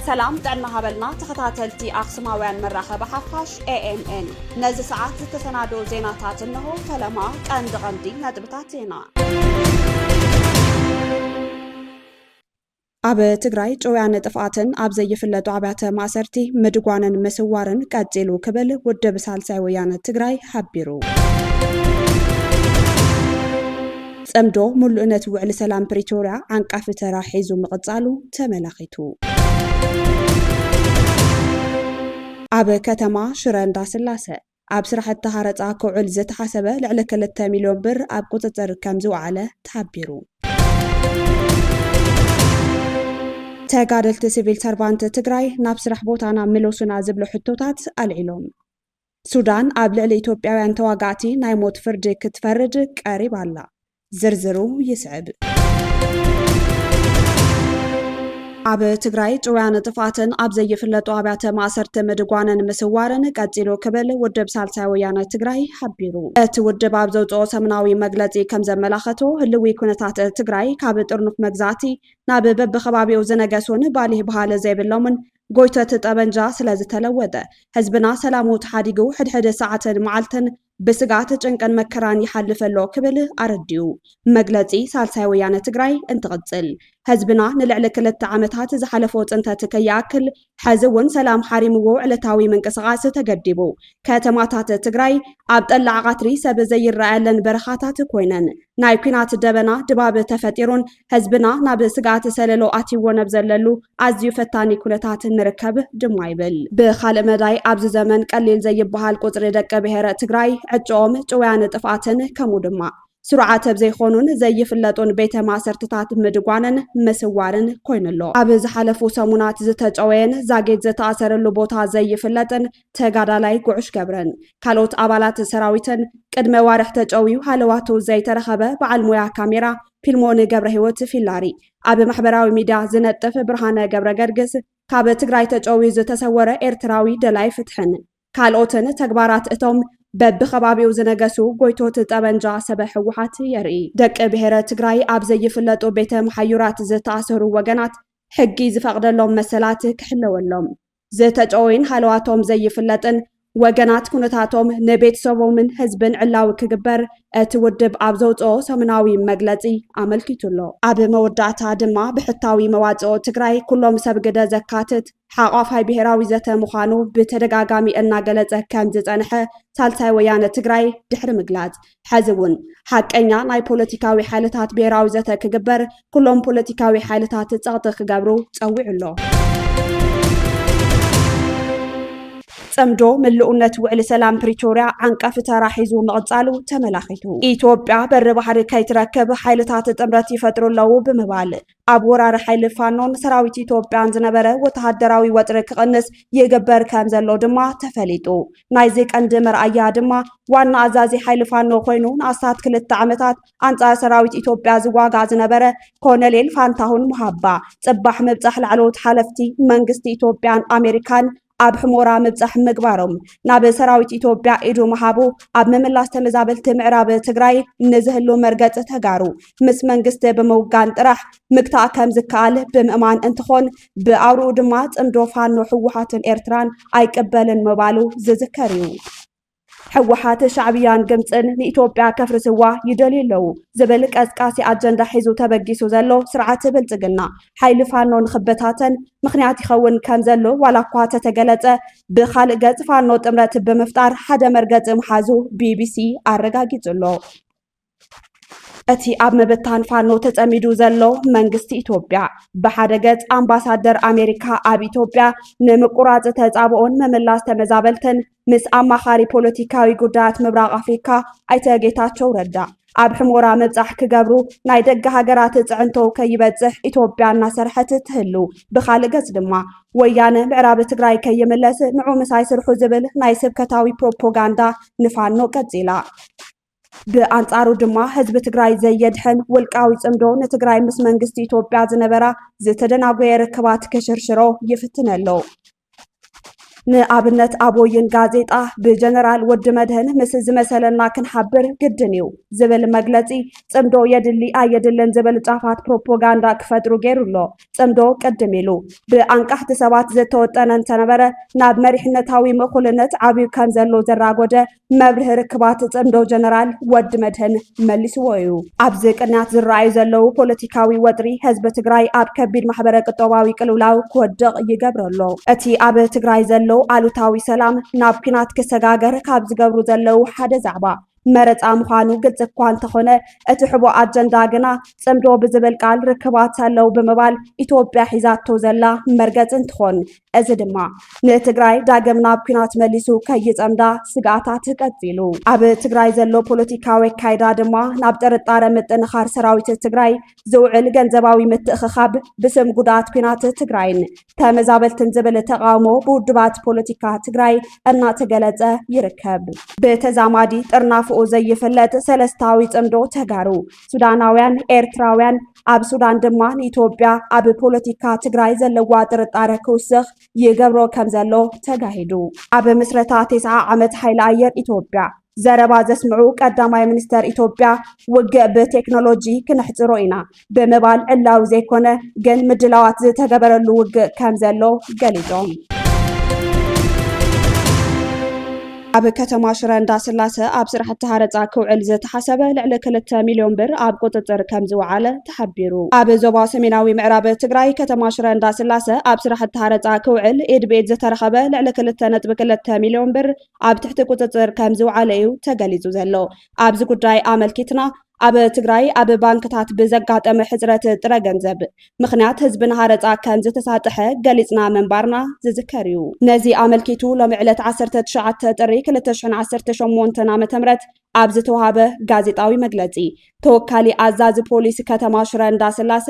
ሰላም ጥዕና ሃበልና ተኸታተልቲ ኣኽሱማውያን መራኸቢ ሓፋሽ ኤኤምኤን ነዚ ሰዓት ዝተሰናደኦ ዜናታት እንሆ ፈለማ ቀንዲ ቀንዲ ነጥብታት ዜና ኣብ ትግራይ ጭውያን ጥፍኣትን ኣብ ዘይፍለጡ ኣብያተ ማእሰርቲ ምድጓንን ምስዋርን ቀፂሉ ክብል ውድብ ሳልሳይ ወያነ ትግራይ ሓቢሩ። ፅምዶ ሙሉእነት ውዕሊ ሰላም ፕሪቶርያ ዓንቃፊ ተራ ሒዙ ምቕፃሉ ተመላኺቱ። ኣብ ከተማ ሽረ እንዳስላሰ ኣብ ስራሕቲ ሃረፃ ክውዕል ዝተሓሰበ ልዕሊ ክልተ ሚሊዮን ብር ኣብ ቁፅፅር ከምዝወዓለ ተሓቢሩ። ተጋደልቲ ሲቪል ሰርቫንት ትግራይ ናብ ስራሕ ቦታና ምለሱና ዝብሉ ሕቶታት ኣልዒሎም። ሱዳን ኣብ ልዕሊ ኢትዮጵያውያን ተዋጋእቲ ናይ ሞት ፍርዲ ክትፈርድ ቀሪባ ኣላ። ዝርዝሩ ይስዕብ። ኣብ ትግራይ ጭውያን ጥፍኣትን ኣብ ዘይፍለጡ ኣብያተ ማእሰርቲ ምድጓንን ምስዋርን ቀፂሉ ክብል ውድብ ሳልሳይ ወያነ ትግራይ ሓቢሩ። እቲ ውድብ ኣብ ዘውፅኦ ሰሙናዊ መግለፂ ከም ዘመላኸቶ ህልዊ ኩነታት ትግራይ ካብ ጥርኑፍ መግዛእቲ ናብ በብከባቢኡ ዝነገሱን ባሊህ በሃሊ ዘይብሎምን ጎይቶት ጠበንጃ ስለዝተለወጠ ህዝብና ሰላሙ ተሓዲጉ ሕድሕድ ሰዓትን መዓልትን ብስግኣት ጭንቅን መከራን ይሓልፍ ኣሎ ክብል ኣረዲኡ። መግለጺ ሳልሳይ ወያነ ትግራይ እንትቕጽል፣ ህዝብና ንልዕሊ ክልተ ዓመታት ዝሓለፎ ጽንተት ከይኣክል፣ ሕዚ እውን ሰላም ሓሪምዎ ዕለታዊ ምንቅስቓስ ተገዲቡ፣ ከተማታት ትግራይ ኣብ ጠላዕ ቓትሪ ሰብ ዘይረኣየለን በረኻታት ኮይነን፣ ናይ ኲናት ደበና ድባብ ተፈጢሩን ህዝብና ናብ ስግኣት ሰለሎ ኣትይዎ ነብ ዘለሉ ኣዝዩ ፈታኒ ኩነታት ንርከብ ድማ ይብል። ብኻልእ መዳይ ኣብዚ ዘመን ቀሊል ዘይብሃል ቁጽሪ ደቂ ብሄረ ትግራይ ዕጭኦም ጭውያን ጥፍኣትን ከምኡ ድማ ስሩዓት ብ ዘይኾኑን ዘይፍለጡን ቤተ ማእሰርትታት ምድጓንን ምስዋርን ኮይኑ ኣሎ። ኣብ ዝሓለፉ ሰሙናት ዝተጨወየን ዛጊት ዝተኣሰረሉ ቦታ ዘይፍለጥን ተጋዳላይ ጉዑሽ ገብረን ካልኦት ኣባላት ሰራዊትን ቅድመ ዋርሕ ተጨውዩ ሃለዋቱ ዘይተረኸበ በዓል ሞያ ካሜራ ፊልሞን ገብረሂወት፣ ፊላሪ፣ ኣብ ማሕበራዊ ሚድያ ዝነጥፍ ብርሃነ ገብረገርግስ፣ ካብ ትግራይ ተጨውዩ ዝተሰወረ ኤርትራዊ ደላይ ፍትሕን ካልኦትን ተግባራት እቶም በቢከባቢኡ ዝነገሱ ጎይቶት ጠበንጃ ሰበ ህወሓት የርኢ። ደቂ ብሄረ ትግራይ ኣብ ዘይፍለጡ ቤተ መሓዩራት ዝተኣሰሩ ወገናት ሕጊ ዝፈቕደሎም መሰላት ክሕለወሎም፣ ዝተጨወዩን ሃለዋቶም ዘይፍለጥን ወገናት ኩነታቶም ንቤተሰቦምን ህዝብን ዕላዊ ክግበር እቲ ውድብ ኣብ ዘውፅኦ ሰሙናዊ መግለፂ ኣመልኪቱ ኣሎ። ኣብ መወዳእታ ድማ ብሕታዊ መዋፅኦ ትግራይ ኩሎም ሰብ ግደ ዘካትት ሓቋፋይ ብሄራዊ ዘተ ምዃኑ ብተደጋጋሚ እናገለፀ ከምዝፀንሐ ሳልሳይ ወያነ ትግራይ ድሕሪ ምግላፅ ሐዚ እውን ሓቀኛ ናይ ፖለቲካዊ ሓይልታት ብሄራዊ ዘተ ክግበር ኩሎም ፖለቲካዊ ሓይልታት ፀቕጢ ክገብሩ ፀዊዑ ኣሎ። ጽምዶ ምልኡነት ውዕሊ ሰላም ፕሪቶርያ ዓንቀፊ ተራ ሒዙ ምቕጻሉ ተመላኺቱ። ኢትዮጵያ በሪ ባሕሪ ከይትረክብ ሓይልታት ጥምረት ይፈጥሩ ኣለዉ ብምባል ኣብ ወራሪ ሓይሊ ፋኖን ሰራዊት ኢትዮጵያን ዝነበረ ወተሃደራዊ ወጥሪ ክቕንስ ይግበር ከም ዘሎ ድማ ተፈሊጡ። ናይዚ ቀንዲ መርኣያ ድማ ዋና ኣዛዚ ሓይሊ ፋኖ ኮይኑ ንኣስታት ክልተ ዓመታት ኣንጻር ሰራዊት ኢትዮጵያ ዝዋጋእ ዝነበረ ኮነሌል ፋንታሁን ሙሃባ ጽባሕ ምብጻሕ ላዕለዎት ሓለፍቲ መንግስቲ ኢትዮጵያን ኣሜሪካን ኣብ ሕሞራ ምብፃሕ ምግባሮም ናብ ሰራዊት ኢትዮጵያ ኢዱ ምሃቡ ኣብ ምምላስ ተመዛበልቲ ምዕራብ ትግራይ ንዝህሉ መርገፂ ተጋሩ ምስ መንግስቲ ብምውጋን ጥራሕ ምግታእ ከም ዝከኣል ብምእማን እንትኾን ብኣውርኡ ድማ ፅምዶ ፋኖ ህወሓትን ኤርትራን ኣይቅበልን ምባሉ ዝዝከር እዩ። ሕወሓት ሻዕብያን ግብፅን ንኢትዮጵያ ከፍርስዋ ይደልዩ ኣለዉ ዝብል ቀስቃሲ ኣጀንዳ ሒዙ ተበጊሱ ዘሎ ስርዓት ብልፅግና ሓይሊ ፋኖ ንኽበታተን ምኽንያት ይኸውን ከም ዘሎ ዋላ እኳ ተተገለፀ ብኻልእ ገፅ ፋኖ ጥምረት ብምፍጣር ሓደ መርገፂ ምሓዙ ቢቢሲ ኣረጋጊፁ ኣሎ። እቲ ኣብ ምብታን ፋኖ ተጸሚዱ ዘሎ መንግስቲ ኢትዮጵያ ብሓደ ገጽ ኣምባሳደር ኣሜሪካ ኣብ ኢትዮጵያ ንምቁራጽ ተጻብኦን ምምላስ ተመዛበልትን ምስ ኣማኻሪ ፖለቲካዊ ጉዳያት ምብራቕ ኣፍሪካ ኣይተ ጌታቸው ረዳ ኣብ ሕሞራ ምብጻሕ ክገብሩ ናይ ደገ ሃገራት ጽዕንቶ ከይበጽሕ ኢትዮጵያ እናሰርሐት ትህሉ ብካልእ ገጽ ድማ ወያነ ምዕራብ ትግራይ ከይምለስ ንዑ ምሳይ ስርሑ ዝብል ናይ ስብከታዊ ፕሮፓጋንዳ ንፋኖ ቀጺላ ብኣንፃሩ ድማ ህዝቢ ትግራይ ዘየድሕን ውልቃዊ ፅምዶ ንትግራይ ምስ መንግስቲ ኢትዮጵያ ዝነበራ ዝተደናጎየ ርክባት ክሽርሽሮ ይፍትን ኣሎ። ንኣብነት ኣብ ወይን ጋዜጣ ብጀነራል ወዲ መድህን ምስ ዝመሰለና ክንሓብር ግድን እዩ ዝብል መግለፂ ፅምዶ የድሊ ኣየድልን ዝብል ጫፋት ፕሮፓጋንዳ ክፈጥሩ ገይሩ ኣሎ። ፅምዶ ቅድም ኢሉ ብኣንቃሕቲ ሰባት ዝተወጠነ እንተነበረ ናብ መሪሕነታዊ ምእኩልነት ዓብዩ ከም ዘሎ ዘራጎደ መብርሂ ርክባት ፅምዶ ጀነራል ወዲ መድህን መሊስዎ እዩ። ኣብዚ ቅንያት ዝረኣዩ ዘለዉ ፖለቲካዊ ወጥሪ ህዝቢ ትግራይ ኣብ ከቢድ ማሕበረ ቅጦባዊ ቅልውላው ክወድቕ ይገብሮ ኣሎ። እቲ ኣብ ትግራይ ዘሎ ኣሉታዊ ሰላም ናብ ኲናት ክሰጋገር ካብ ዝገብሩ ዘለዉ ሓደ ዛዕባ መረፃ ምዃኑ ግልፂ እኳ እንተኾነ እቲ ሕቡእ ኣጀንዳ ግና ፅምዶ ብዝብል ቃል ርክባት ኣለው ብምባል ኢትዮጵያ ሒዛቶ ዘላ መርገፂ እንትኾን እዚ ድማ ንትግራይ ዳግም ናብ ኲናት መሊሱ ከይጸምዳ ስግኣታት ቀጺሉ። ኣብ ትግራይ ዘሎ ፖለቲካዊ ኣካይዳ ድማ ናብ ጥርጣረ ምጥንኻር ሰራዊት ትግራይ ዝውዕል ገንዘባዊ ምትእኽኻብ ብስም ጉድኣት ኲናት ትግራይን ተመዛበልትን ዝብል ተቓውሞ ብውድባት ፖለቲካ ትግራይ እናተገለጸ ይርከብ። ብተዛማዲ ጥርናፈኡ ዘይፍለጥ ሰለስታዊ ጽምዶ ተጋሩ፣ ሱዳናውያን፣ ኤርትራውያን፣ ኣብ ሱዳን ድማ ንኢትዮጵያ ኣብ ፖለቲካ ትግራይ ዘለዋ ጥርጣረ ክውስኽ ይገብሮ ከም ዘሎ ተጋሂዱ። ኣብ ምስረታ ቴስዓ ዓመት ሓይሊ ኣየር ኢትዮጵያ ዘረባ ዘስምዑ ቀዳማይ ሚኒስተር ኢትዮጵያ ውግእ ብቴክኖሎጂ ክነሕፅሮ ኢና ብምባል ዕላዊ ዘይኮነ ግን ምድላዋት ዝተገበረሉ ውግእ ከም ዘሎ ገሊፆም። ኣብ ከተማ ሽረ እንዳስላሰ ኣብ ስራሕቲ ሃረፃ ክውዕል ዝተሓሰበ ልዕሊ ክልተ ሚሊዮን ብር ኣብ ቁፅፅር ከምዝወዓለ ተሓቢሩ። ኣብ ዞባ ሰሜናዊ ምዕራብ ትግራይ ከተማ ሽረ እንዳስላሰ ኣብ ስራሕቲ ሃረፃ ክውዕል ኢድ ብኢድ ዝተረኸበ ልዕሊ ክልተ ነጥቢ ክልተ ሚሊዮን ብር ኣብ ትሕቲ ቁፅፅር ከምዝወዓለ እዩ ተገሊፁ ዘሎ። ኣብዚ ጉዳይ ኣመልኪትና ኣብ ትግራይ ኣብ ባንክታት ብዘጋጠመ ሕፅረት ጥረ ገንዘብ ምኽንያት ህዝቢ ንሃረፃ ከምዝተሳጥሐ ገሊፅና ምንባርና ዝዝከር እዩ። ነዚ ኣመልኪቱ ሎሚ ዕለት ዓሰርተ ትሽዓተ ጥሪ ክልተ ሽሕን ዓሰርተ ሸሞንተን ዓ ም ኣብ ዝተውሃበ ጋዜጣዊ መግለፂ ተወካሊ ኣዛዚ ፖሊስ ከተማ ሽረ እንዳስላሰ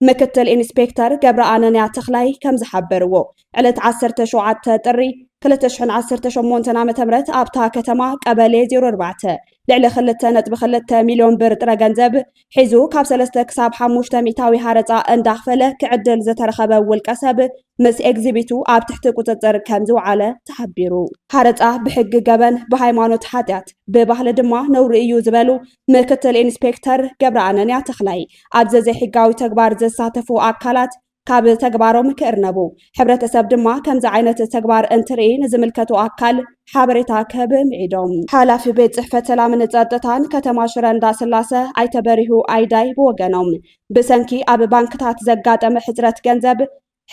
ምክትል ኢንስፔክተር ገብረኣነንያ ተኽላይ ከም ዝሓበርዎ ዕለት 17 ጥሪ 2018 ዓ ም ኣብታ ከተማ ቀበሌ 04 ልዕሊ 2.2 ሚልዮን ብር ጥረ ገንዘብ ሒዙ ካብ 3 ክሳብ 5 ሚእታዊ ሃረፃ እንዳኽፈለ ክዕድል ዝተረኸበ ውልቀ ሰብ ምስ ኤግዚቢቱ ኣብ ትሕቲ ቁፅፅር ከም ዝውዓለ ተሓቢሩ። ሃረፃ ብሕጊ ገበን፣ ብሃይማኖት ሓጢኣት፣ ብባህሊ ድማ ነውሪ እዩ ዝበሉ ምክትል ኢንስፔክተር ገብረኣነንያ ተኽላይ፣ ኣብዚ ዘይሕጋዊ ተግባር ዝሳተፉ ኣካላት ካብ ተግባሮም ክእርነቡ፣ ሕብረተሰብ ድማ ከምዚ ዓይነት ተግባር እንትርኢ ንዝምልከቶ ኣካል ሓበሬታ ክህብ ምዒዶም። ሓላፊ ቤት ፅሕፈት ሰላምን ፀጥታን ከተማ ሽረ እንዳስላሰ ኣይተ በሪሁ ኣይዳይ ብወገኖም፣ ብሰንኪ ኣብ ባንክታት ዘጋጠመ ሕፅረት ገንዘብ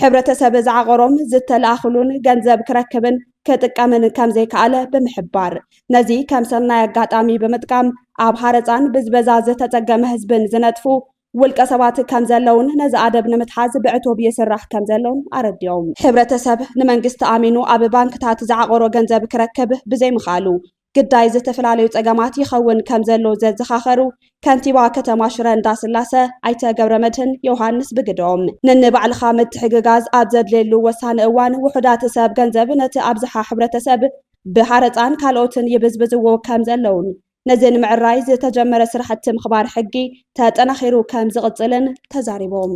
ሕብረተሰብ ዝዓቐሮም ዝተለኣኽሉን ገንዘብ ክረክብን ክጥቀምን ከምዘይከኣለ ብምሕባር ነዚ ከም ሰናይ ኣጋጣሚ ብምጥቃም ኣብ ሃረፃን ብዝበዛ ዝተፀገመ ህዝብን ዝነጥፉ ውልቀ ሰባት ከም ዘለውን ነዚ ኣደብ ንምትሓዝ ብዕቱብ ይስራሕ ከም ዘሎን ኣረዲኦም። ሕብረተሰብ ንመንግስቲ ኣሚኑ ኣብ ባንክታት ዝዓቐሮ ገንዘብ ክረክብ ብዘይምኽኣሉ ግዳይ ዝተፈላለዩ ፀገማት ይኸውን ከምዘሎ ዘዘኻኸሩ ከንቲባ ከተማ ሽረ እንዳስላሰ ኣይተ ገብረመድህን ዮውሃንስ ብግደኦም፣ ነንባዕልኻ ምትሕግጋዝ ኣብ ዘድልየሉ ወሳኒ እዋን ውሑዳት ሰብ ገንዘብ ነቲ ኣብዝሓ ሕብረተሰብ ብሃረፃን ካልኦትን ይብዝብዝዎ ከምዘለውን ነዚ ንምዕራይ ዝተጀመረ ስራሕቲ ምኽባር ሕጊ ተጠናኺሩ ከምዝቕፅልን ተዛሪቦም።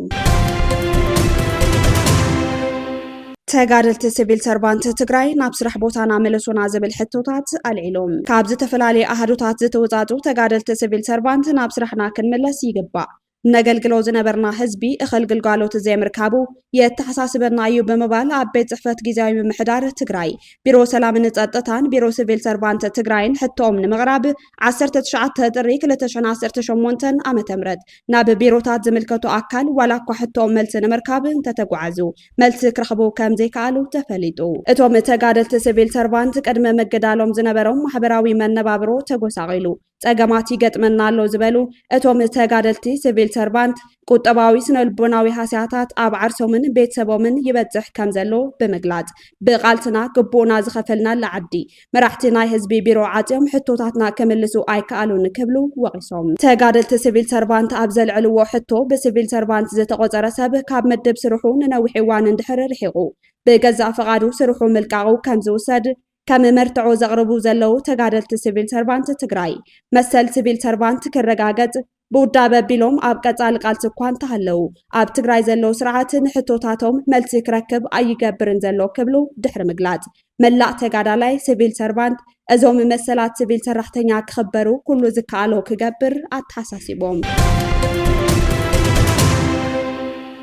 ተጋደልቲ ሲቪል ሰርቫንት ትግራይ ናብ ስራሕ ቦታና መለሱና ዝብል ሕቶታት ኣልዒሎም ካብ ዝተፈላለዩ ኣሃዱታት ዝተወፃፁ ተጋደልቲ ሲቪል ሰርቫንት ናብ ስራሕና ክንምለስ ይግባእ ነገልግሎ ዝነበርና ህዝቢ እኸል ግልጋሎት ዘይምርካቡ የተሓሳስበና እዩ ብምባል ኣብ ቤት ፅሕፈት ግዜያዊ ምምሕዳር ትግራይ ቢሮ ሰላምን ፀጥታን ቢሮ ሲቪል ሰርቫንት ትግራይን ሕቶኦም ንምቕራብ ዓሰርተ ትሽዓተ ጥሪ ክልተ ሽሕን ዓሰርተ ሸሞንተን ዓመተ ምህረት ናብ ቢሮታት ዝምልከቱ ኣካል ዋላ እኳ ሕቶኦም መልሲ ንምርካብ እንተተጓዓዙ መልሲ ክረኽቡ ከም ዘይከኣሉ ተፈሊጡ። እቶም ተጋደልቲ ሲቪል ሰርቫንት ቅድሚ ምግዳሎም ዝነበሮም ማሕበራዊ መነባብሮ ተጎሳቒሉ ጸገማት ይገጥመና ኣሎ ዝበሉ እቶም ተጋደልቲ ሲቪል ሰርቫንት ቁጠባዊ ስነልቦናዊ ሃስያታት ኣብ ዓርሶምን ቤተሰቦምን ይበፅሕ ከምዘሎ ብምግላፅ፣ ብቓልስና ግቡእና ዝኸፈልናላ ዓዲ መራሕቲ ናይ ህዝቢ ቢሮ ዓፅዮም ሕቶታትና ክምልሱ ኣይከኣሉን ክብሉ ወቒሶም። ተጋደልቲ ስቪል ሰርቫንት ኣብ ዘልዐልዎ ሕቶ ብስቪል ሰርቫንት ዝተቖፀረ ሰብ ካብ ምድብ ስርሑ ንነዊሕ እዋን እንድሕር ርሒቑ ብገዛእ ፍቓዱ ስርሑ ምልቃቑ ከምዝውሰድ ከም መርትዖ ዘቕርቡ ዘለዉ ተጋደልቲ ስቪል ሰርቫንት ትግራይ፣ መሰል ስቪል ሰርቫንት ክረጋገፅ ብውዳበ ቢሎም ኣብ ቀፃሊ ቃልሲ እኳ እንተሃለዉ ኣብ ትግራይ ዘሎ ስርዓት ንሕቶታቶም መልሲ ክረክብ ኣይገብርን ዘሎ ክብሉ ድሕሪ ምግላፅ መላእ ተጋዳላይ ስቪል ሰርቫንት እዞም መሰላት ስቪል ሰራሕተኛ ክኽበሩ ኩሉ ዝከኣሎ ክገብር ኣተሓሳሲቦም።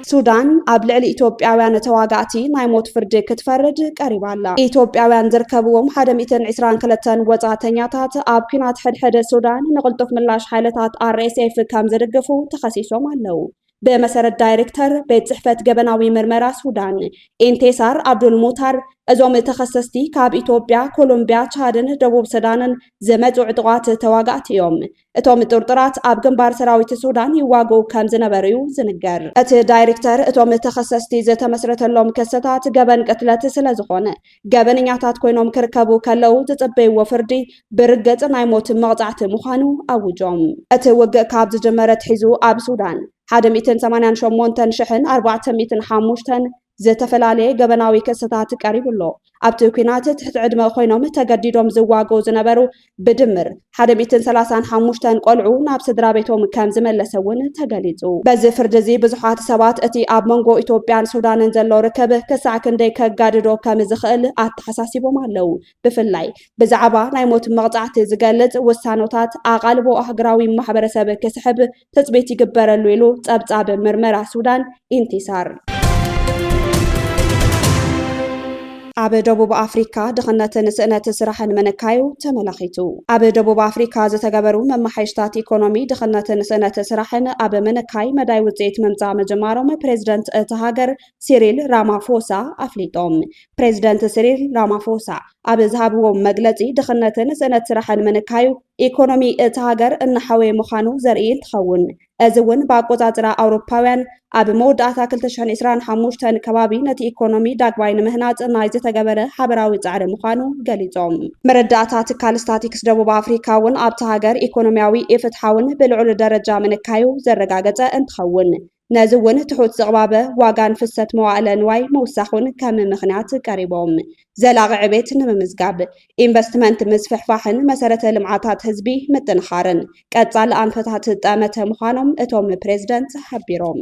ሱዳን ኣብ ልዕሊ ኢትዮጵያውያን ተዋጋእቲ ናይ ሞት ፍርዲ ክትፈርድ ቀሪባ ኣላ። ኢትዮጵያውያን ዝርከብዎም ሓደ ሚእትን ዕስራን ክልተን ወጻእተኛታት ኣብ ኲናት ሕድሕድ ሱዳን ንቕልጡፍ ምላሽ ሓይልታት RSF ከም ዝድግፉ ተኸሲሶም ኣለው። ብመሰረት ዳይሬክተር ቤት ጽሕፈት ገበናዊ ምርመራ ሱዳን ኢንቴሳር ኣብዱል ሙታር፣ እዞም ተኸሰስቲ ካብ ኢትዮጵያ፣ ኮሎምቢያ፣ ቻድን ደቡብ ሱዳንን ዝመጹ ዕጡቓት ተዋጋእቲ እዮም። እቶም ጥርጡራት ኣብ ግንባር ሰራዊት ሱዳን ይዋግኡ ከም ዝነበሩ'ዩ ዝንገር። እቲ ዳይርክተር እቶም ተኸሰስቲ ዝተመስረተሎም ክስታት ገበን ቅትለት ስለ ዝኾነ ገበነኛታት ኮይኖም ክርከቡ ከለው ዝጽበይዎ ፍርዲ ብርግጽ ናይ ሞት መቕጻዕቲ ምዃኑ ኣውጆም። እቲ ውግእ ካብ ዝጅመር ኣትሒዙ ኣብ ሱዳን ሓደ ሚእትን ሰማንያን ሸሞንተን ሽሕን ኣርባዕተ ሚእትን ሓሙሽተን ዝተፈላለየ ገበናዊ ክስታት ቀሪቡ ኣሎ። ኣብቲ ኲናት ትሕቲ ዕድመ ኮይኖም ተገዲዶም ዝዋገኡ ዝነበሩ ብድምር ሓደ ሚእትን ሰላሳን ሓሙሽተን ቆልዑ ናብ ስድራቤቶም ከም ዝመለሰ እውን ተገሊጹ። በዚ ፍርዲ እዚ ብዙሓት ሰባት እቲ ኣብ መንጎ ኢትዮጵያን ሱዳንን ዘሎ ርክብ ክሳዕ ክንደይ ከጋድዶ ከም ዝኽእል ኣተሓሳሲቦም ኣለዉ። ብፍላይ ብዛዕባ ናይ ሞት መቕጻዕቲ ዝገልጽ ውሳኖታት ኣቓልቦ ኣህግራዊ ማሕበረሰብ ክስሕብ ትጽቢት ይግበረሉ ኢሉ ጸብጻብ ምርመራ ሱዳን ኢንቲሳር። ኣብ ደቡብ ኣፍሪካ ድኽነትን ስእነት ስራሕን ምንካዩ ተመላኺቱ። ኣብ ደቡብ ኣፍሪካ ዝተገበሩ መመሓየሽታት ኢኮኖሚ ድኽነትን ስእነት ስራሕን ኣብ ምንካይ መዳይ ውፅኢት ምምፃእ ምጅማሮም ፕሬዚደንት እታ ሃገር ሲሪል ራማፎሳ ኣፍሊጦም። ፕሬዚደንት ሲሪል ራማፎሳ ኣብ ዝሃብዎ መግለፂ ድኽነትን ስእነት ስራሕን ምንካዩ ኢኮኖሚ እታ ሃገር እናሓወየ ምዃኑ ዘርኢ እንትኸውን እዚ እውን ብኣቆፃፅራ ኣውሮፓውያን ኣብ መወዳእታ 2025 ከባቢ ነቲ ኢኮኖሚ ዳግማይ ንምህናፅ ናይ ዝተገበረ ሓበራዊ ፃዕሪ ምዃኑ ገሊፆም። መረዳእታ ትካል ስታቲክስ ደቡብ ኣፍሪካ እውን ኣብታ ሃገር ኢኮኖሚያዊ ኢፍትሓውን ብልዑል ደረጃ ምንካዩ ዘረጋገፀ እንትኸውን ነዚ እውን ትሑት ዝቕባበ ዋጋን ፍሰት መዋእለ ንዋይ ምውሳኹን ከም ምኽንያት ቀሪቦም። ዘላቒ ዕቤት ንምምዝጋብ ኢንቨስትመንት ምስፍሕፋሕን መሰረተ ልምዓታት ህዝቢ ምጥንኻርን ቀፃሊ ኣንፈታት ጠመተ ምዃኖም እቶም ፕሬዝደንት ሓቢሮም።